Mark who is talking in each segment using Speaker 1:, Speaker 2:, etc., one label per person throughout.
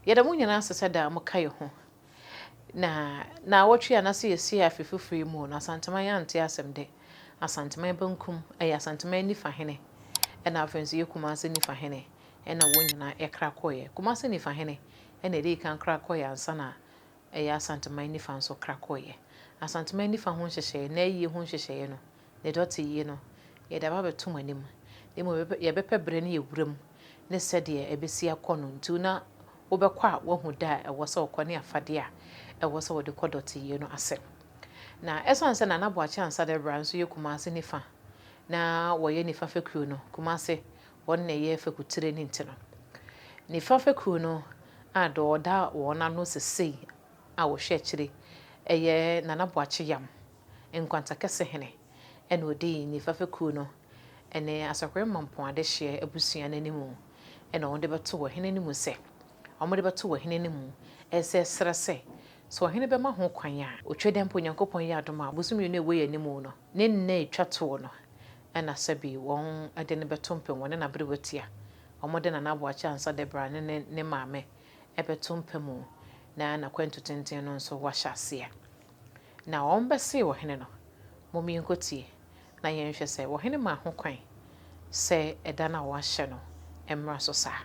Speaker 1: Yɛda mo nyinaa ase sɛ daa moka yɛn ho. Na naawɔtwe a na sɛ yɛsi afe foforo yi mu o, na Asanteman ante asɛm dɛ. Asanteman bankum yɛ Asanteman nifa hene, ɛna afei nso yɛ Kumase nifa hene, ɛna wɔn nyinaa ɛkra kɔeɛ. Kumase nifa hene ɛna ɛdii kan kra kɔeɛ ansa na ɛyɛ Asanteman nifa nso kra kɔeɛ. Asanteman nifa ho nhyehyɛeɛ, n'ayie ho nhyehyɛeɛ no, ne dɔte yi no, yɛde aba abɛto mo anim, na mmom yɛbɛpɛ berɛ ne awuram ne sɛdeɛ ɛbɛsi akɔ no nti na wobɛkɔ a woahu da a ɛwɔ sɛ wokɔ ne afadeɛ a ɛwɔ sɛ wode kɔ dɔte yi no ase. Na ɛsiane sɛ Nana Boakye Ansah da biara nso yɛ Kumase nifa na wɔyɛ nifa fekuo no, Kumase wɔn na ɛyɛ fekutire no nti no, nifa fekuo no a deɛ ɔda wɔn ano sesei a ɔhwɛ akyire yɛ Nana Boakye Yam. Nkwanta Kɛse Hene na ɔdii Nifa fekuo no ne Asakwem Mampong adehyeɛ abusua no anim na wɔn de bɛto ɔhene no mu sɛ wɔn de bɛto ɔhene no mu sɛ srɛ sɛ sɛ ɔhene bɛma ho kwan a. Otwa dɛ mpo Nyankopɔn yɛ adom a bosome mmienu a ɛwɔ yɛn anim no ne nna a ɛtwa toɔ no na sɛbi wɔn de no bɛto mpem wɔne n'aberewatia wɔn de Nana Aboakye Ansa Debra ne ne ne maame bɛto mpa mu na n'akwantu tenten no nso wɔahyɛ aseɛ Na wɔbɛsee ɔhene no, Mom yɛnkɔtie, na yɛnhwɛ sɛ ɔhene maa ho kwan sɛ ɛda no a wɔahyɛ no mmra so saa.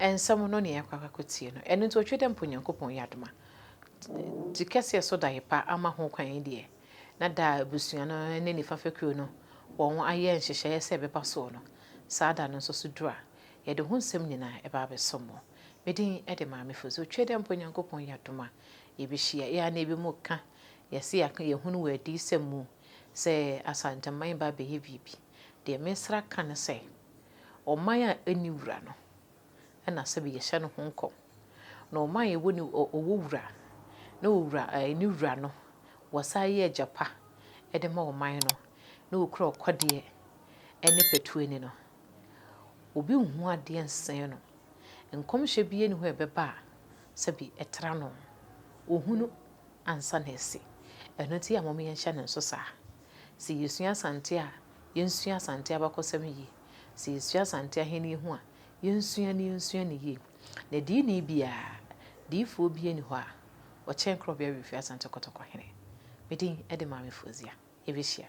Speaker 1: Nsɛm no nea yɛakɔ akɔtie no, ɛno nti otwe dɛ mpo Nyankopɔn yɛ adom a Tsi kɛseɛ so dae pa ama ho kwan yi deɛ, na da a abusua no ne nifa fekuo no wɔn ayɛ nhyehyɛeɛ sɛ ɛbɛba soɔ no, saa da no nso so duru a, yɛde ho nsɛm nyinaa ɛba abɛsom mo. Me din de Maame Fosu. Otwe dɛ mpo Nyankopɔn yɛ adom a yɛbɛhyia. Yɛn anan bi mu ka, yɛse yɛaka, yɛhunu wɔ adiyisɛm mu sɛ Asanteman ba abɛyɛ biribi. Deɛ meresrɛ aka ne sɛ, ɔman a ɛnni wura no na sɛbe yɛhyɛ no ho nkɔm. Na ɔman a ɛwɔ ne ɔwɔ wura na ɔwura ne wura no wɔsan yɛ agya pa de ma ɔman no na ɔkura ɔkɔdeɛ ne patuani no, obi nhu adeɛ nsee no. Nkɔmhyɛ biara nni hɔ a ɛbɛba a sɛbe ɛtra no. Ɔhunu ansa na asi. Ɛno nti yɛ a mom yɛnhyɛ no nso saa. Sɛ yesua Asante a, yensua Asante abakɔsɛm yiye. Sɛ yesua Asante Ahenni ho a, yensua na yensua no yiye. Na diini biara, diyifoɔ biara nni hɔ a ɔkyɛn Korɔbea Awemfie Asante Kɔtɔkɔ Hene. Me din de Maame Fozia. Yɛbɛhyia.